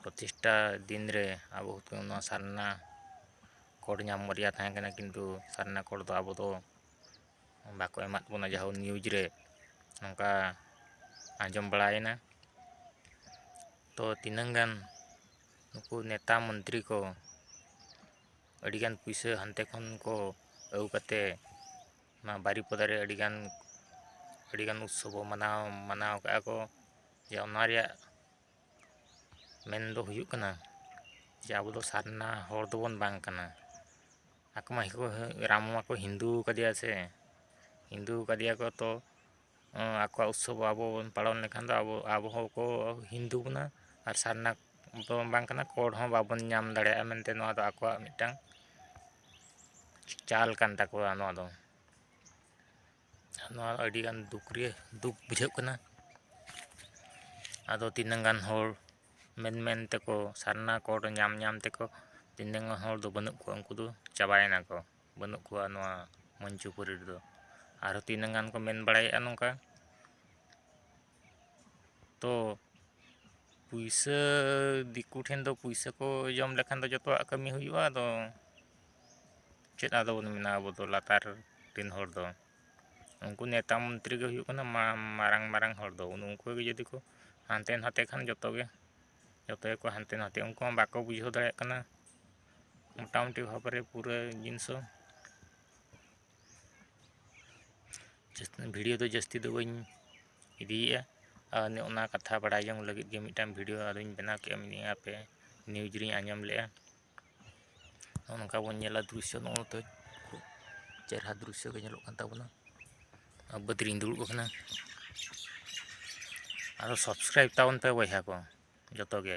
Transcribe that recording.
ᱯᱨᱚᱛᱤᱥᱴᱷᱟ ᱫᱤᱱ ᱨᱮ ᱟᱵᱚ ᱱᱚᱣᱟ ᱥᱟᱨᱱᱟ ᱠᱳᱰ ᱧᱟᱢ ᱨᱮᱭᱟᱜ ᱛᱟᱦᱮᱸ ᱠᱟᱱᱟ ᱠᱤᱱᱛᱩ ᱥᱟᱨᱱᱟ ᱠᱳᱰ ᱫᱚ ᱟᱵᱚ ᱫᱚ ᱵᱟᱠᱚ ᱮᱢᱟᱜ ᱵᱚᱱᱟ ᱡᱟᱭᱦᱳᱠ ᱱᱤᱭᱩᱡᱽ ᱨᱮ ᱱᱚᱝᱠᱟ ᱟᱸᱡᱚᱢ ᱵᱟᱲᱟᱭᱮᱱᱟ ᱛᱚ ᱛᱤᱱᱟᱹᱝ ᱜᱟᱱ ᱱᱩᱠᱩ ᱱᱮᱛᱟ ᱢᱚᱱᱛᱨᱤ ᱠᱚ ᱟᱹᱰᱤᱜᱟᱱ ᱯᱩᱭᱥᱟᱹ ᱦᱟᱱᱛᱮ ᱠᱷᱚᱱ ᱠᱚ ᱟᱹᱜᱩ ᱠᱟᱛᱮ ᱱᱚᱣᱟ ᱵᱟᱨᱤᱯᱟᱫᱟ ᱨᱮ ᱟᱹᱰᱤᱜᱟᱱ ᱟᱹᱰᱤᱜᱟᱱ ᱩᱛᱥᱚᱵᱽ ᱦᱚᱸ ᱢᱟᱱᱟᱣ ᱢᱟᱱᱟᱣ ᱠᱟᱜᱼᱟ ᱠᱚ ᱡᱮ ᱚᱱᱟ ᱨᱮᱭᱟᱜ ᱢᱮᱱ ᱫᱚ ᱦᱩᱭᱩᱜ ᱠᱟᱱᱟ ᱡᱮ ᱟᱵᱚ ᱫᱚ ᱥᱟᱨᱱᱟ ᱦᱚᱲ ᱫᱚᱵᱚᱱ ᱵᱟᱝ ᱠᱟᱱᱟ ᱟᱠᱚ ᱢᱟ ᱨᱟᱢ ᱢᱟᱠᱚ ᱦᱤᱱᱫᱩ ᱟᱠᱟᱫᱮᱭᱟ ᱥᱮ ᱦᱤᱱᱫᱩ ᱟᱠᱟᱫᱮᱭᱟ ᱠᱚ ᱛᱚ ᱟᱠᱚᱣᱟᱜ ᱩᱛᱥᱚᱵᱽ ᱟᱵᱚ ᱵᱚᱱ ᱯᱟᱞᱚᱱ ᱞᱮᱠᱷᱟᱱ ᱫᱚ ᱟᱵᱚ ᱟᱵᱚ ᱦᱚᱸ ᱠᱚ ᱦᱤᱱᱫᱩ ᱵᱚᱱᱟ ᱟᱨ ᱥᱟᱨᱱᱟ ᱫᱚ ᱵᱟᱝ ᱠᱟᱱᱟ ᱠᱳᱰ ᱦᱚᱸ ᱵᱟᱵᱚᱱ ᱧᱟᱢ ᱫᱟᱲᱮᱭᱟᱜᱼᱟ ᱢᱮᱱᱛᱮ ᱱᱚᱣᱟ ᱫᱚ ᱟᱠᱚᱣᱟᱜ ᱢᱤᱫᱴᱟᱝ ᱪᱟᱞ ᱠᱟᱱ ᱛᱟᱠᱚᱣᱟ ᱱᱚᱣᱟ ᱫᱚ ᱱᱚᱣᱟ ᱟᱹᱰᱤ ᱜᱟᱱ ᱫᱩᱠ ᱨᱮ ᱫᱩᱠ ᱵᱩᱡᱷᱟᱹᱜ ᱠᱟᱱᱟ ᱟᱫᱚ ᱛᱤᱱᱟᱹᱝ ᱜᱟᱱ ᱦᱚᱲ ᱢᱮᱱ ᱢᱮᱱ ᱛᱮᱠᱚ ᱥᱟᱨᱱᱟ ᱠᱳᱰ ᱧᱟᱢ ᱧᱟᱢ ᱛᱮᱠᱚ ᱛᱤᱱᱟᱹᱝ ᱜᱟᱱ ᱦᱚᱲ ᱫᱚ ᱵᱟᱹᱱᱩᱜ ᱠᱚᱣᱟ ᱩᱱᱠᱩ ᱫᱚ ᱪᱟᱵᱟᱭᱮᱱᱟ ᱠᱚ ᱵᱟᱹᱱᱩᱜ ᱠᱚᱣᱟ ᱱᱚᱣᱟ ᱢᱚᱧᱪᱚᱯᱩᱨᱤ ᱨᱮᱫᱚ ᱟᱨᱚ ᱛᱤᱱᱟᱹᱝ ᱜᱟᱱ ᱠᱚ ᱢᱮᱱ ᱵᱟᱲᱟᱭᱮᱫᱼᱟ ᱱᱚᱝᱠᱟ ᱛᱚ ᱯᱩᱭᱥᱟᱹ ᱫᱤᱠᱩ ᱴᱷᱮᱱ ᱫᱚ ᱯᱩᱭᱥᱟᱹ ᱠᱚ ᱡᱚᱢ ᱞᱮᱠᱷᱟᱱ ᱫᱚ ᱡᱚᱛᱚᱣᱟᱜ ᱠᱟᱹᱢᱤ ᱦᱩᱭᱩᱜᱼᱟ ᱟᱫᱚ ᱪᱮᱫ ᱟᱫᱚ ᱵᱚᱱ ᱢᱮᱱᱟ ᱟᱵᱚ ᱫᱚ ᱞᱟᱛᱟᱨ ᱨᱮᱱ ᱦᱚᱲ ᱫᱚ ᱩᱱᱠᱩ ᱱᱮᱛᱟ ᱢᱚᱱᱛᱨᱤ ᱜᱮ ᱦᱩᱭᱩᱜ ᱠᱟᱱᱟ ᱢᱟᱨᱟᱝ ᱢᱟᱨᱟᱝ ᱦᱚᱲ ᱫᱚ ᱩᱱᱠᱩ ᱜᱮ ᱡᱩᱫᱤ ᱠᱚ ᱦᱟᱱᱛᱮ ᱱᱟᱛᱮ ᱠᱷᱟᱱ ᱡᱚᱛᱚ ᱜᱮ ᱡᱚᱛᱚ ᱜᱮᱠᱚ ᱦᱟᱱᱛᱮ ᱱᱟᱛᱮᱜᱼᱟ ᱩᱱᱠᱩ ᱦᱚᱸ ᱵᱟᱠᱚ ᱵᱩᱡᱷᱟᱹᱣ ᱫᱟᱲᱮᱭᱟᱜ ᱠᱟᱱᱟ ᱢᱳᱴᱟᱢᱩᱴᱤ ᱵᱷᱟᱵᱽ ᱨᱮ ᱯᱩᱨᱟᱹ ᱡᱤᱱᱤᱥ ᱦᱚᱸ ᱵᱷᱤᱰᱤᱭᱳ ᱫᱚ ᱡᱟᱹᱥᱛᱤ ᱫᱚ ᱵᱟᱹᱧ ᱤᱫᱤᱭᱮᱜᱼᱟ ᱟᱨ ᱚᱱᱟ ᱠᱟᱛᱷᱟ ᱵᱟᱲᱟᱭ ᱡᱚᱝ ᱞᱟᱹᱜᱤᱫ ᱜᱮ ᱢᱤᱫᱴᱟᱱ ᱵᱷᱤᱰᱤᱭᱳ ᱟᱨᱚᱧ ᱵᱮᱱᱟᱣ ᱠᱮᱜᱼᱟ ᱢᱮᱱᱮᱫᱼᱟ ᱦᱟᱯᱮ ᱱᱤᱭᱩᱡᱽ ᱨᱮᱧ ᱟᱸᱡᱚᱢ ᱞᱮᱜᱼᱟ ᱱᱚᱜᱼᱚ ᱱᱚᱝᱠᱟ ᱵᱚᱱ ᱧᱮᱞᱟ ᱫᱨᱤᱥᱥᱚ ᱱᱚᱜᱼᱚ ᱱᱚᱛᱮ ᱠᱷᱩᱵ ᱪᱮᱦᱨᱟ ᱫᱨᱤᱥᱥᱚ ᱜᱮ ᱧᱮᱞᱚᱜ ᱠᱟᱱ ᱛᱟᱵᱚᱱᱟ ᱟᱨ ᱵᱟᱹᱫᱽ ᱨᱤᱧ ᱫᱩᱲᱩᱵ ᱟᱠᱟᱱᱟ ᱟᱨᱚ ᱥᱟᱵᱥᱠᱨᱟᱭᱤᱵᱽ ᱛᱟᱵᱚᱱ ᱯᱮ ᱵᱚᱭᱦᱟ ᱠᱚ ᱡᱚᱛᱚ ᱜᱮ